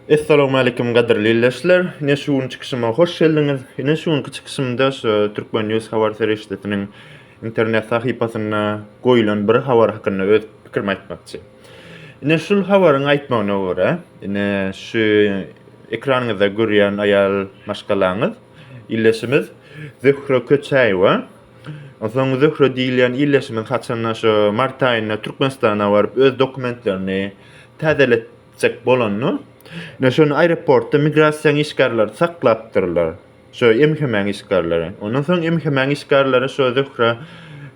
Essalowmalikim gadyrly ildeşler. Ine şu gün çykyşyma hoş geldiňiz. Ine şu günki çykyşymda şu Türkmen News habar serişdesiniň internet sahypasynda goýulan bir habar hakynda öz pikirimi aýtmakçy. Ine şu habaryň aýtmagyna görä, ine şu ekranyňyzda görýän aýal maşgalaňyz, ildeşimiz Zöhre Köçäýewa Soň Zöhre diýilýän ildeşimiz haçanda şo mart aýynda Türkmenistana baryp öz dokumentlerini täzeletjek bolanda, ine şony aeroportda migrasiýaň işgärleri saklapdyrlar. Şo MHM-iň işgärleri. Ondan soň MHM-iň işgärleri şo Zöhre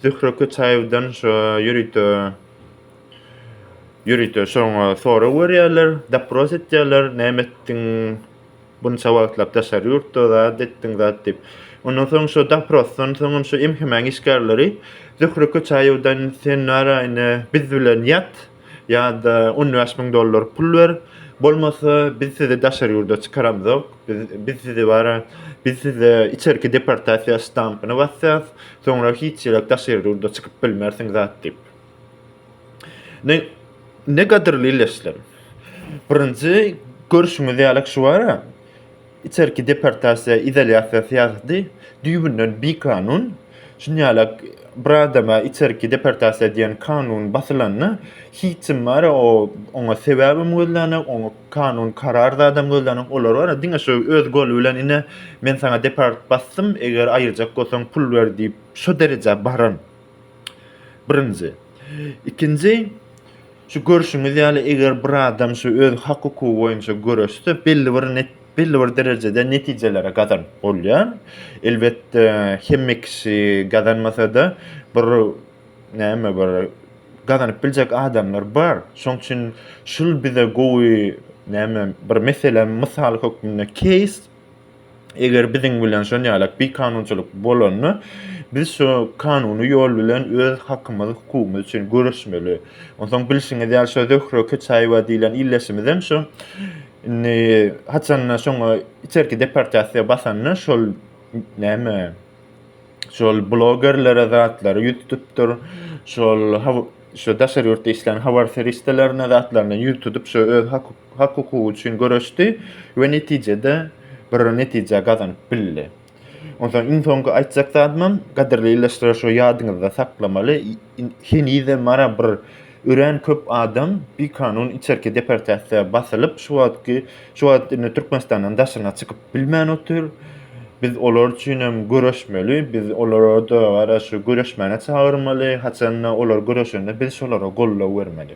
Zöhre Köçaýewden şo ýörite ýörite şoňa sorag berýärler, dopros etýärler, näme etdiň, Bunça wagtlap daşary ýurtda zat etdiň, zat diýip. Ondan soň şo doprosdan soňam şo MHM-iň işgärleri Zöhre Köçäýewden sen naraýyny biz bilen ýat ýa-da on bäş müň dollar pul ber, bolmasa biz sizi daşary ýurda çykaramzok, biz biz sizi bara biz size içerki deportasiýa ştampyny basýas, soňra hiç ýerak daşary ýurda çykyp bilmersiň zat diýip. Ne, ne gadyrly illeşlerim. Birinji görşüňiz ýaly şu wara, içerki deportasiýa, izolýasiýa syýasaty düýbünden bikanun. Şunýala bir adama içerki deportasiýa diýen kanun basylanda, hiç kim wara o, oňa sebäbem gözlänok, oňa kanun karar zadam gözlänok. Olar wara diňe şu öz goly bilen ine, men saňa deport basdym, eger aýyrjak bolsaň pul ber diýip, şu derejä baran. Birinji. Ikinji, şu görşüňiz ýaly, eger bir adam şu öz hak-hukugy boýunça göreşse, belli bir net belli bir derejede netijelere gazanyp bolýar. Elbetde, hemme kişi gazanmasa-da, bir näme bir gazanyp biljek adamlar bar. Şoň üçin şul bize gowy näme bir mesele, mysal hökmünde, keýs. Eger biziň bilen şon ýalak bikanunçylyk bolanda, biz şu kanuny ýol bilen öz hakymyz, hukugymyz üçin göreşmeli. Onsoň bilşiňiz ýaly şo Zöhre Köçaýewa diýlen ildeşimizem şo indi haçanda şoňa içerki deportasiýa basanda şol näme şol blogerlere zatlary ýüz tutupdyr. Şol şu daşary ýurtda işlän habar serişdelerine zatlaryna ýüz tutup şu öz hak hukugy üçin göreşdi we netijede bir netije gazanyp bildi. Onsoň iň soňky aýtjak zadymam gadirli illeşler şu ýadyňyzda saklamaly Henizem mara bir örän köp adam bikanun içerki deportasiýa basylyp, şu wagtky şu wagt indi Türkmenistandan daşyna çykyp bilmän otyr. Biz olar üçin hem göreşmeli. Biz olara-da gara şu göreşmäne çagyrmaly. Haçan-da olar göreşende biz şolara goldaw bermeli.